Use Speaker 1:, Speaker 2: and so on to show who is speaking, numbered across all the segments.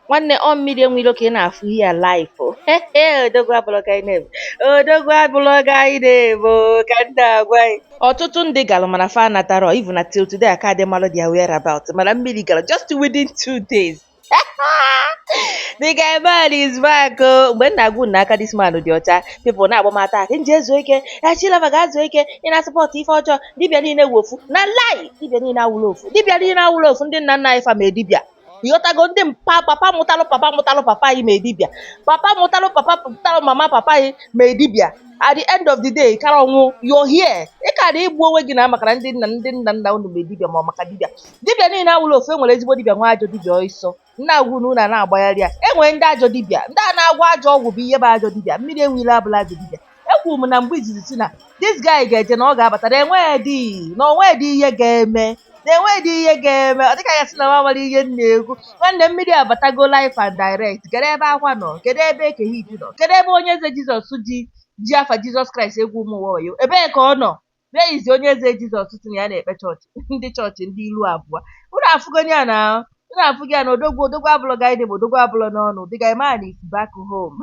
Speaker 1: nwanne ọ mmiri enwe ilo ka ị na-afụ ihe a live o. odogwu abụlọ guy name odogwu abụlọ guy name o, ka ndị agwa anyị ọtụtụ ndị galụ mana fa anatarọ even till today aka adị malụ their whereabout mana mmiri galụ just within two days the guy man is back o mgbe m na-agwa unu na aka this man dị ọcha people na-agba m attack ka m jee zuo ike Chilava gaa zuo ike ị na-support ife ọjọọ dibịa niile wụ ofu na lie dibịa niile awụrọ ofu dibịa niile awụrọ ofu ndị nna nna anyị fa mee dibịa ịghọtago ndị mpa papa mụtalụ papa mụtalụ papa anyị mee dibịa papa mụtalụ papa mụtalụ mama papa anyị mee dibịa at the end of the day ị karọ anwụ you're here ị karọ egbu onwe gị na maka na ndị nna ndị nna nna unu mee dibịa ma ọ maka dibịa dibịa niile awụrọ ofu enwere ezigbo dibịa nwee ajọ dibịa ọsọ m na-agwa unu na a na-agbagharị ya enwere ndị ajọ dibịa ndị a na-agwọ ajọ ọgwụ bụ ihe bụ ajọ dibịa mmiri enwe ilo abụlọ ajọ dibịa ekwuru m na mgbe izizi si na this guy ga-eje na ọ ga-abata na enwedị na o nwedị ihe ga-eme na enwedị ihe ga-eme ọ dịka a ga-asị na m amarọ ihe m na-ekwu nwanne mmiri abatago live and direct kedu ebe akwa nọ kedu ebe eke hit nọ kedu ebe onye eze jizọs ji ji afa jizọs kraịst egwu ụmụ ụwa wayo ebee ka ọ nọ Where is onye eze Jizọs sị na ya na-ekpe chọọchị ndị chọọchị ndị ilu abụọ. Unu afụgo ya na unu afụgo ya na odogwu odogwu abụlọ guy name odogwu abụlọ n'ọnụ the guy man is back home.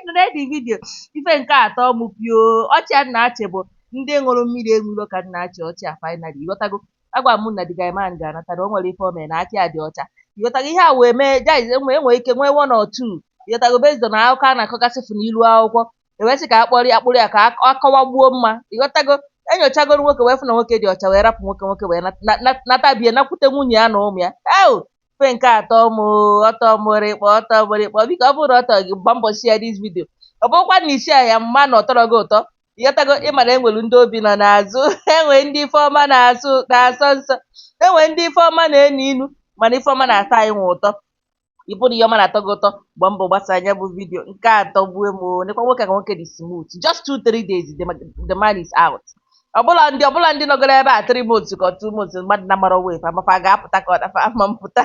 Speaker 1: Nụrụdị vidio ife nke atọ mụ pio ọchị a na-achị bụ ndị iro mmiri enwe ilo ka m na-achị ọchị a finally ịghọtago agwa m unu na the guy man ga-anata na o nwerọ ife o mere na aka ya dị ọcha ịghọtago ihe a wee mee guys enwe enwe ike nwee one or two ịghọtago based on akụkọ a na-akọgasị fụ n'ilu akwụkwọ ewee sị ka a kpọrọ ya akpụrụ ya ka ọ kọwagbuo mma ịghọtago enyochagoro nwoke wee fụ na nwoke dị ọcha wee rapụ nwoke nwoke wee natabie nakwute nwunye ya na ụmụ ya eo ife nke a tọ m ọ tọ mụ rịkpọ ọ tọ mụ rịkpọ biko ọ bụrụ ọ tọ gị gba mbọ share this video ọ bụrụkwa na ị share ya m ma na ọ tọrọ gị ụtọ ịghọtago ị ma na enwere ndị obi nọ n'azụ enwe ndị ife ọma na-asụ na-asọ nsọ enwe ndị ife ọma na-enu inu mana ife ọma na-atọ anyị nwa ụtọ ị fụ na ihe ọma na-atọ gị ụtọ gba mbọ gbasaa nya bụ vidio nke a atọgbuo m nekwa nwoke ka nwoke dị smooth just two three days the, the man is out ọ bụlọ ndị ọ bụlọ ndị nọgoro ebe a three months ka two months mmadụ amarọ whether ma fa ga-apụta ka ọ na fa ama mpụta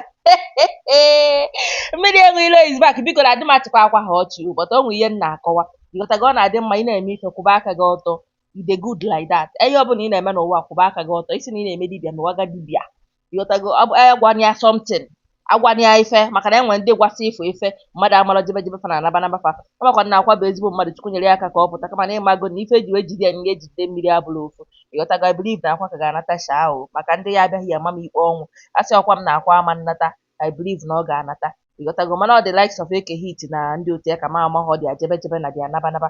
Speaker 1: mmiri enwe ilo is back biko na adị m achịkwa akwa ha ọchị but o nwe ihe m na-akọwa ịghọtago ọ na-adị mma ị na-eme ife kwụba aka gị ọtọ e dey good like that ihe ọbụla ị na-eme n'ụwa kwụba aka gị ọtọ ị sị na ị na-eme dibịa n'ụwa ga dibịa ịghọtago ọ bụ anyị gwara ya something agwara ya ife maka na enwere ndị kwesị ịfụ ife mmadụ amarọ ejebe ejebe fa na anaba anaba fa amakwa na akwa bụ ezigbo mmadụ chukwu nyere ya aka ka ọ pụta kama na ịmago na ife eji wee jide ya na ihe ejide mmiri abụrọ ofu ịghọtago I believe na akwa ka ga-anata sha ahụ maka ndị ya abịaghị ya ama m ikpe ọnwụ asịrọkwa m na akwa ama nnata I believe na ọ ga-anata ịghọtago mana ọ the likes of eke hit na ndị otu ya ka m amarọ their ejebe ejebe na their anaba anaba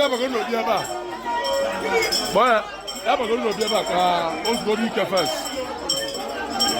Speaker 2: ya bago no bia ba boy ya bago no bia ba ka o go di ka first